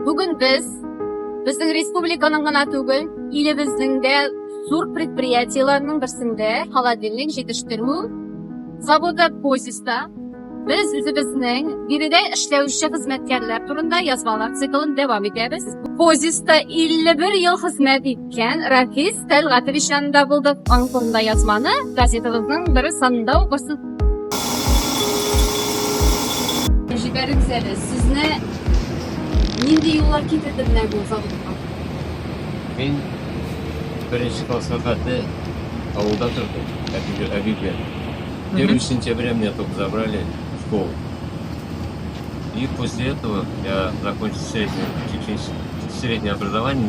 Бүген без безнең республиканың гына түгел, илебезнең дә зур предприятиеләрнең берсендә холодильник җитештерү заводы Позиста без үзебезнең биредә эшләүче хезмәткәрләр турында язмалар циклын дәвам итәбез. Позиста 51 ел хезмәт итте. Җән Рафис Тәлгатович янында булдык. Аның турында язманы газетабызның бер санында укырсыз. Җибәрегез әле, сезне нинди юллар китерде менә бу заводка? Мин беренче класска хәтле авылда тордым, әби- әби белән. Первый сентября меня только забрали в школу. И после этого я закончил среднее, техническое- среднее образование,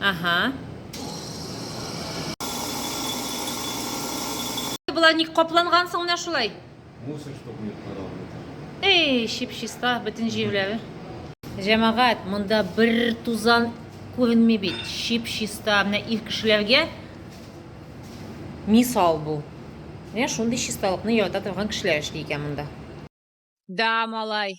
Ага. Була ник капланган соң менә шулай? Мусор штук не подобный. Эй, чип-чиста бөтен җирләре. Җәмәгать, монда бер тузан күренми бит. Чип-чиста менә ир кешеләргә мисал бу. Менә шундый чисталыкны ярата торган кешеләр эшли икән монда. Да, малай.